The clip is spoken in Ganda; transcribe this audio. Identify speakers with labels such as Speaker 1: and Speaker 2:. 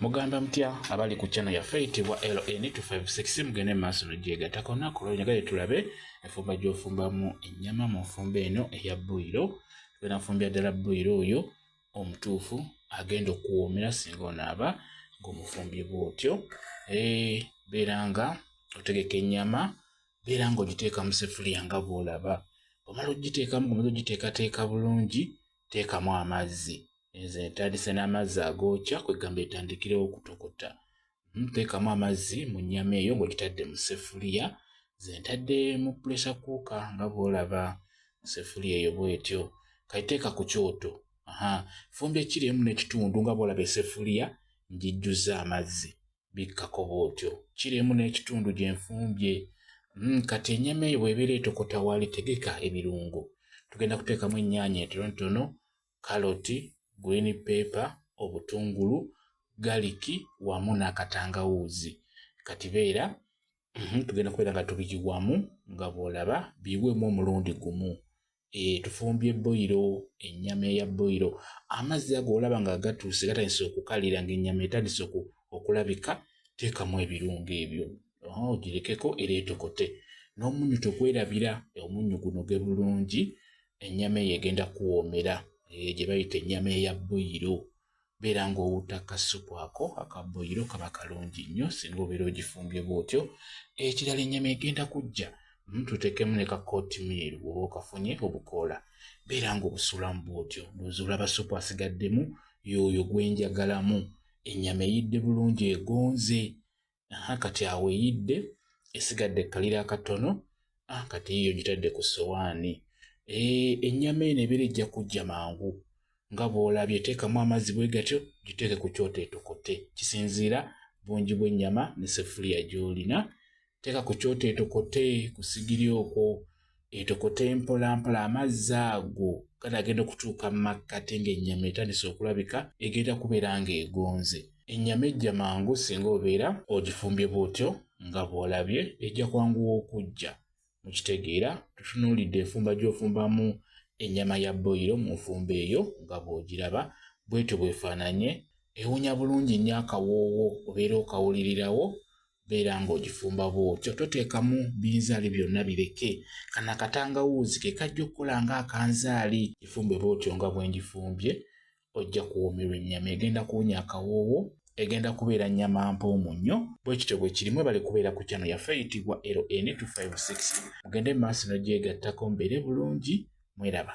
Speaker 1: Mugamba mutya abali ku channel yaffe eyitibwa LN256 mugende mu maaso nogyegatako naku lwonyagale tulabe enfumba gyofumbamu ennyama mu nfumba eno eya buyiro tugenda nfumbira ddala buyiro oyo omutuufu agenda okuwoomera singa onaaba ng'omufumbi bwotyo eh, beera nga otegeka ennyama beera nga ogiteeka mu sefuliya nga bwolaba omala ogiteekamu gumeza ogiteekateeka bulungi teekamu amazzi enze etandise n'amazzi agookya kwegamba etandikirewo okutokota hmm, teekamu amazzi mu nnyama eyo ng'ogitadde mu sefuliya ze ntadde mu pulesa kuuka nga bw'olaba sefuliya eyo bwetyo kaiteeka ku kyoto aha fumbi ekiri emu n'ekitundu nga bw'olaba esefuliya ngijjuzza amazzi bikkako bw'otyo kiri emu n'ekitundu gye nfumbye mm, kati ennyama eyo bw'ebeera etokota waali tegeka ebirungo tugenda kuteekamu ennyaanya entonotono kaloti green paper obutungulu galiki wamu n'akatangawuuzi kati beera mm, tugenda kubeera nga tubiyiwamu nga bw'olaba biyiwemu omulundi gumu eh, tufumbye boyiro ennyama eya boyiro amazzi ago olaba nga gatuuse gatandise okukalira ngaennyama etandise okulabika teekamu ebirungo ebyo ogirekeko oh, era etokote n'omunyu togwerabira omunyu guno ge bulungi ennyama eyo egenda kuwoomera eh, gye bayita ennyama eya boyiro beera ng'owutta kassupu ako akabboyiro kaba kalungi nnyo singa obeera ogifumbye bw'otyo ekirala ennyama egenda kujja hmm, tuteekemu ne kakootimeeri woba okafunye obukoola beera ng'obusuulamu bw'otyo nozuula basupu asigaddemu yooyo gwenjagalamu ennyama eyidde bulungi egonze aha kati awo eyidde esigadde kalira akatono ah, kati yiyo gitadde ku sowaani eh, ennyama eno ebeera ejja kujja mangu nga bw'olabye teekamu amazzi bwe gatyo giteeke ku kyoto etokote kisinziira bungi bw'ennyama ne sefuliya gy'olina teeka ku kyoto etokote ku sigiri okwo Etokota empolampola amazzi ago kati agenda okutuuka mu makkati ng'ennyama etandise okulabika egenda kubeera ng'egonze. Ennyama ejja mangu singa obeera ogifumbye bw'otyo nga bw'olabye, ejja kwanguwa okujja. Mukitegeera? Tutunuulidde enfumba gy'ofumbamu ennyama ya boyiro mu nfumba eyo nga bw'ogiraba, bw'etyo bw'efaananye. Ewunya bulungi nnyo akawoowo, obeera okawulirirawo, beera ng'ogifumba bw'otyo toteekamu binzaali byonna bireke kana katangawuuzi ke kajja okukola ng'akanzaali gifumbe bw'otyo nga bwe ngifumbye ojja kuwoomerwa ennyama egenda kuwonya akawoowo egenda kubeera nnyama mpoomu nnyo bwe kityo bwe kirimu ebale kubeera ku kyano yaffe eyitibwa ln256 mugende maaso nogyegattako mbeere bulungi mweraba